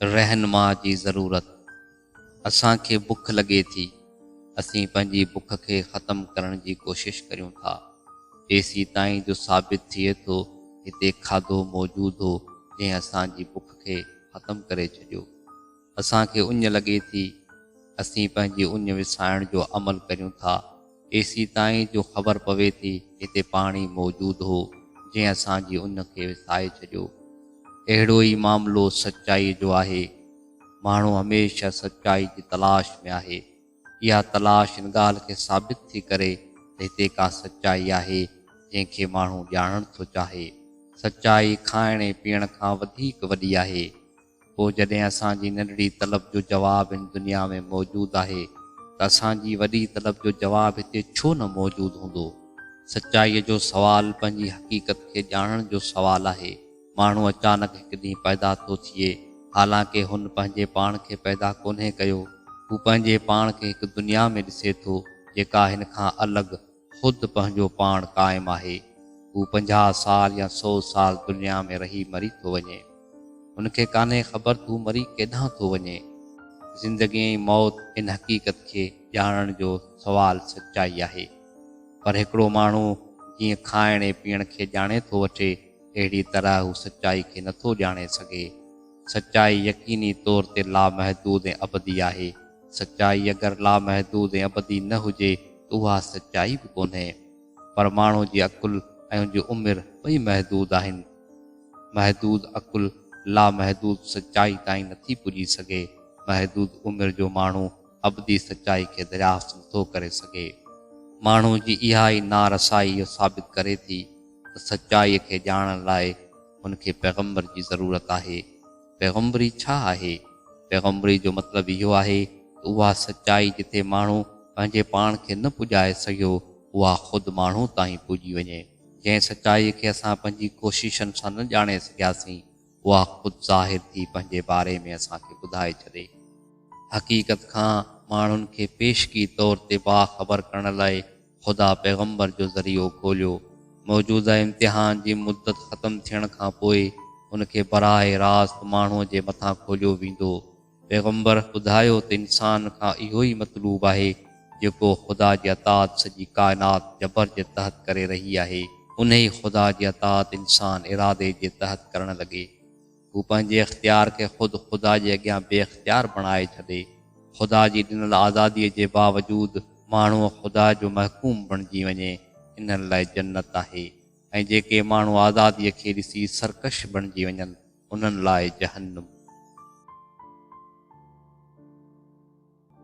رهنما جي ضرورت، اسان کي بک لڳي ٿي، اسين پنهنجي بک کي ختم ڪرڻ جي ڪوشش ڪريون ٿا، جيسيتائين جو ثابت ٿئي ٿو هتي کاڌو موجود هو جنهن اسان جي بک کي ختم ڪري ڇڏيو. اسان کي اڃ لڳي ٿي، اسين پنهنجي اڃ وسائڻ جو عمل ڪريون ٿا، ايسيتائين جو خبر پوي ٿي هتي پاڻي موجود هو، جنهن اسان جي اڃ کي وسائي ڇڏيو. اهڙو ئي معاملو سچائيء جو آهي. ماڻهو هميشه سچائي جي تلاش ۾ آهي. اها تلاش ان ڳالهه کي ثابت ٿي ڪري ته هتي ڪا سچائي آهي، جنهن کي ماڻهو ڄاڻڻ ٿو چاهي. سچائي کائڻ ۽ پيئڻ کان وڌيڪ وڏي آهي. پوء جڏهن اسان جي ننڍڙي طلب جو جواب هن دنيا ۾ موجود آهي ته اسان جي وڏي طلب جو جواب هتي ڇو نه موجود هوندو؟ سچائيء جو سوال پنهنجي حقيقت کي ڄاڻڻ جو سوال آهي. ماڻهو اچانڪ هڪ ڏينهن پيدا ٿو ٿئي، حالانڪه هن پنهنجي پاڻ کي پيدا ڪونهي ڪيو. هو پنهنجي پاڻ کي هڪ دنيا ۾ ڏسي ٿو، جيڪا هن کان الڳ، خود پنهنجو پاڻ قائم آهي، هو پنجاهه سال يا سؤ سال دنيا ۾ رهي مري ٿو وڃي. هن کي ڪانهي خبر ته هو مري ڪيڏانهن ٿو وڃي. زندگي ۽ موت ان حقيقت کي ڄاڻڻ جو سوال سچائي آهي. پر هڪڙو ماڻهو جيئن کائڻ ۽ پيئڻ کي ڄاڻي ٿو وٺي، اهڙي طرح هو سچائي کي نٿو ڄاڻي سگهي. سچائي يقيني طور تي لامحدود ۽ ابدي آهي. سچائي اگر لامحدود ۽ ابدي نه هجي ته اها سچائي به ڪونهي. پر ماڻهو جي عقل ۽ ان جي عمر ٻئي محدود آهن. محدود عقل لامحدود سچائي تائين نٿي پڄي سگهي. محدود عمر جو ماڻهو ابدي سچائي کي دريافت نٿو ڪري سگهي. ماڻهو جي اها ئي نارسائي اهو ثابت ڪري ٿي ته سچائي کي ڄاڻڻ لاء هن کي پيغمبر جي ضرورت آهي. پيغمبري ڇا آهي؟ پيغمبري جو مطلب اهو آهي ته اها سچائي جتي ماڻهو پنهنجي پاڻ کي نه پڄائي سگهيو، اها خود ماڻهو تائين پڄي وڃي. جنهن سچائي کي اسان پنهنجي ڪوششن سان نه ڄاڻي سگهياسين، اها خود ظاهر ٿي پنهنجي باري ۾ اسان کي ٻڌائي ڇڏي. حقيقت کان ماڻهن کي پيشگي طور تي باخبر ڪرڻ لاء خدا پيغمبر جو ذريعو کوليو. موجوده امتحان جي مدت ختم ٿيڻ کان پوء ان کي براهه راست ماڻهوء جي مٿان کوليو ويندو. پيغمبر ٻڌايو ته انسان کان اهو ئي مطلوب آهي جيڪو خدا جي اطاعت سڄي ڪائنات جبر جي تحت ڪري رهي آهي. انهي خدا جي اطاعت انسان ارادي جي تحت ڪرڻ لڳي. هو پنهنجي اختيار کي خود خدا جي اڳيان بي اختيار بڻائي ڇڏي. خدا جي ڏنل آزاديء جي باوجود ماڻهوء خدا جو محڪوم بڻجي وڃي، انهن لاء جنت آهي ۽ جيڪي ماڻهو آزاديء کي ڏسي سرڪش بڻجي وڃن، انهن لاء جهنم.